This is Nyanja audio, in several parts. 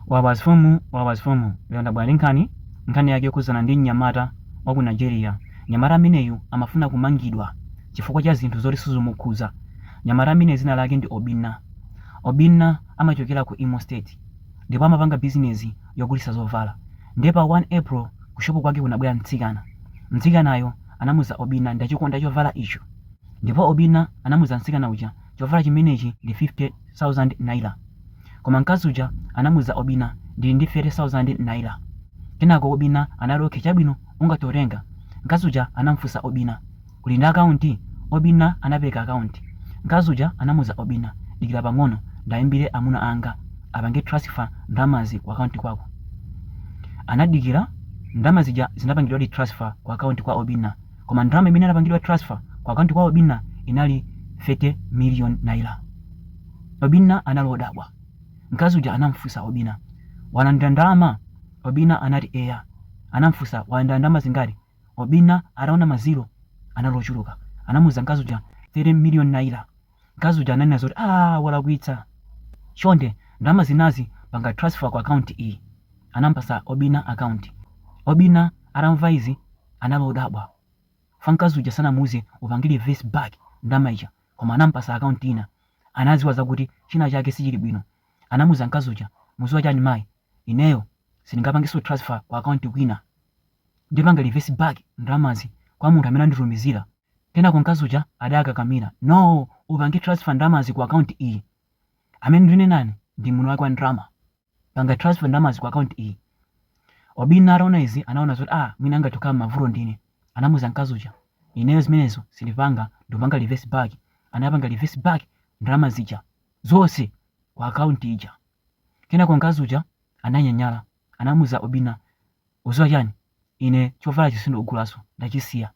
Wabasfumu Wabasfumu lero ndabwera ndi nkhani, nkhani yake yokhudzana ndi mnyamata wa ku Nigeria. Mnyamata ameneyu amafuna kumangidwa chifukwa cha zinthu zoti sizimukhudza. Mnyamata ameneyu dzina lake ndi Obinna. Obinna amachokera ku Imo State ndipo amapanga bizinezi yogulitsa zovala. Ndiye pa 1 April kushopu kwake kunabwera mtsikana. Mtsikanayo anamuuza Obinna, ndachikonda chovala icho. Ndipo Obinna anamuuza mtsikana uja Chovala chimenechi ndi 50,000 naira. Koma mkazi uja anamuza Obinna, Ndili ndi 30,000 naira. Kenako Obinna anati, Okay, chabwino, ungathe kutenga. Mkazi uja anamufunsa Obinna, Uli ndi akaunti? Obinna anapereka akaunti. Mkazi uja anamuza Obinna, Dikira pang'ono, ndaimbire amuna anga apange transfer ndalamazi ku akaunti kwako. Anadikira, ndalama zija zinapangidwadi transfer ku akaunti kwa Obinna. Koma ndalama zimene zinapangidwa transfer ku account kwa Obinna inali 30 million naira. Obinna anali odabwa. Mkazi uja anamfusa Obinna, walandira ndalama? Obinna anati eya. Anamfusa walandira ndalama zingati? Obinna ataona ma zero anali ochuluka anamuuza mkazi uja 30 million naira. Mkazi uja ananena zoti aah walakwitsa chonde ndalama zinazi panga transfer ku account iyi. Anamupatsa Obinna account. Obinna atamva izi anali odabwa chifukwa mkazi uja sanamuuze upange reverse back ndalama ija koma anamupatsa account ina. Anadziwa zakuti china chake sichili bwino. Anamuuza mkazi uja mudziwa chani mayi ineyo sindingapangenso transfer ku account kwina. Ndipanga reverse back ndalamazi kwa munthu amene anditumizira. Kenako mkazi uja adakakamira, No! Upange transfer ndalamazi ku account iyi. Amene ndinenanu ndine mwini wake wa ndalama. Panga transfer ndalamazi ku account iyi. Obinna ataona izi anaona zoti ah mwina angathe kukhala m'mavuto ndine. Anamuuza mkazi uja, Ineyo zimenezo sindipanga, ndikupanga reverse back. Anapanga reverse back ndalama zija zonse ku account ija. Kenako mkazi uja ananyanyala. Anamuuza Obinna, Udziwa chani? Ine chovalachi sindikugulanso, ndachisiya.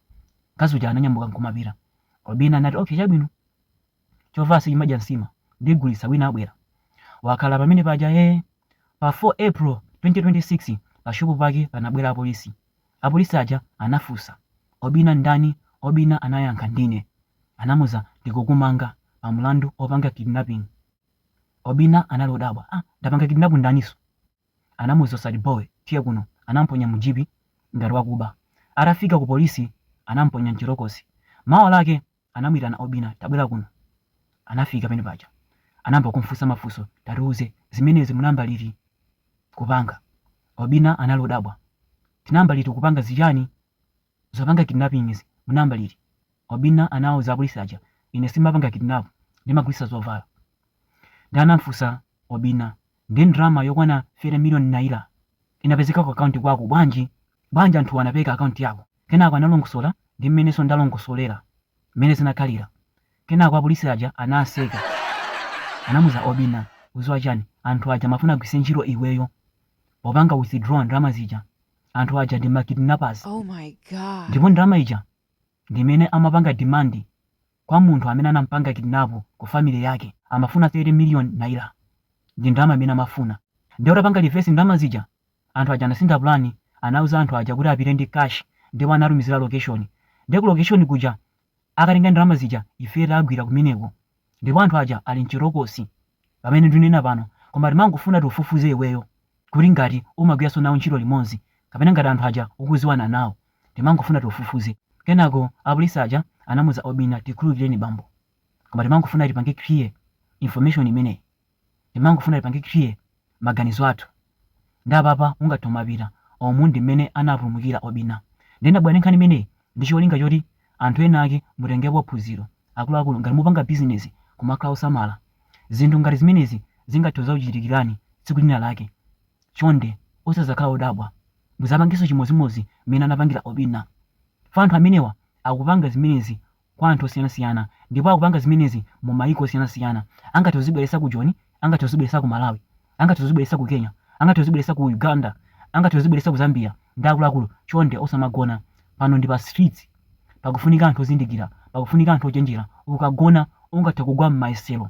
Mkazi uja ananyamuka nkumapita. Obina anati, Ok, chabwino. Chovala sichimadya nsima. Ndigulitsa, wina abwera. Wakhala pamene paja ee. Pa 4 April 2026, pa shopu pake panabwera apolisi. Apolisi aja anafunsa, Obina ndani? Obina anayankha, Ndine. Anamuza, Tikukumanga pa mulandu opanga kidnapping. Obina anali odabwa, Ah, ndapanga kidnap ndaninso? anamuuza zoti boy tiye kuno anamponya mu jeep ngati wakuba atafika ku police anamponya mchitokosi mawa lake anamuitana obina tabwera kuno anafika pamene paja anayamba kumfusa mafuso tatiuza zimenezi munayamba liti kupanga obina anali odabwa tinayamba liti kupanga zichani Zopanga kidnapping izi munayamba liti? Obinna anawauza apolisi aja, Ine sindimapanga kidnap, ndimagulisa zovala. Nde anamfusa Obinna, Nde ndrama yokwana 30 million naira inapezeka ku account kwako bwanji? Bwanji anthuwa anapeza account yako? Kenako analongosola ndi mmenenso ndalongosolera mmene zinakhalira. Kenako apolisi aja anaseka. Anamuza Obinna, Uziwa chani, anthu aja amafuna agwiritse ntchito iweyo popanga withdraw ndrama zija. Anthu aja ndi ma kidnappers Oh my God. ndipo ndalama ija ndi imene amapanga demand kwa munthu amene anampanga kidnap ku family yake. Amafuna 30 million naira. Ndi ndalama imene amafuna. Ndiye utapanga reverse ndalama zija, anthu aja anasintha plan, anauza anthu aja kuti apite ndi cash ndipo anawatumizira location. Ndiye ku location kuja akatenga ndalama zija ifeyo tagwira kumeneko ndipo anthu aja ali mchitokosi pamene ndinena pano koma timangofuna tikufufuze iweyo kuti ngati umagwiranso nawo ntchito limodzi kapena ngati anthu aja ukuziwana nawo timangofuna tikufufuze kenako apolisi aja anamuza obina tikhululukireni bambo koma timangofuna tipange clear information imeneyi timangofuna tipange clear maganizo athu nde apapa ungathe kumapita oh umu ndi mmene anapulumukira obina nde ndabwera ndi nkhani imeneyi ndi cholinga choti anthu ena ake mutengepo phunziro akuluakulu ngati mupanga business kumakhala osamala zinthu ngati zimenezi zingathe kuzakuchitikirani tsiku lina lake chonde osazakhala odabwa muzapangenso chimodzimodzi mmene anapangira obina chifukwa anthu amenewa akupanga zimenezi kwa anthu osiyanasiyana ndipo akupanga zimenezi mu mayiko osiyanasiyana. Angathe kuzibweretsa ku Joni, angathe kuzibweretsa ku Malawi, angathe kuzibweretsa ku Kenya, angathe kuzibweretsa ku Uganda, angathe kuzibweretsa ku Zambia nde akuluakulu chonde osamagona. Pano ndi pa streets. Pakufunika anthu ozindikira, pakufunika anthu ochenjera. Ukagona ungathe kugwa m'mayesero.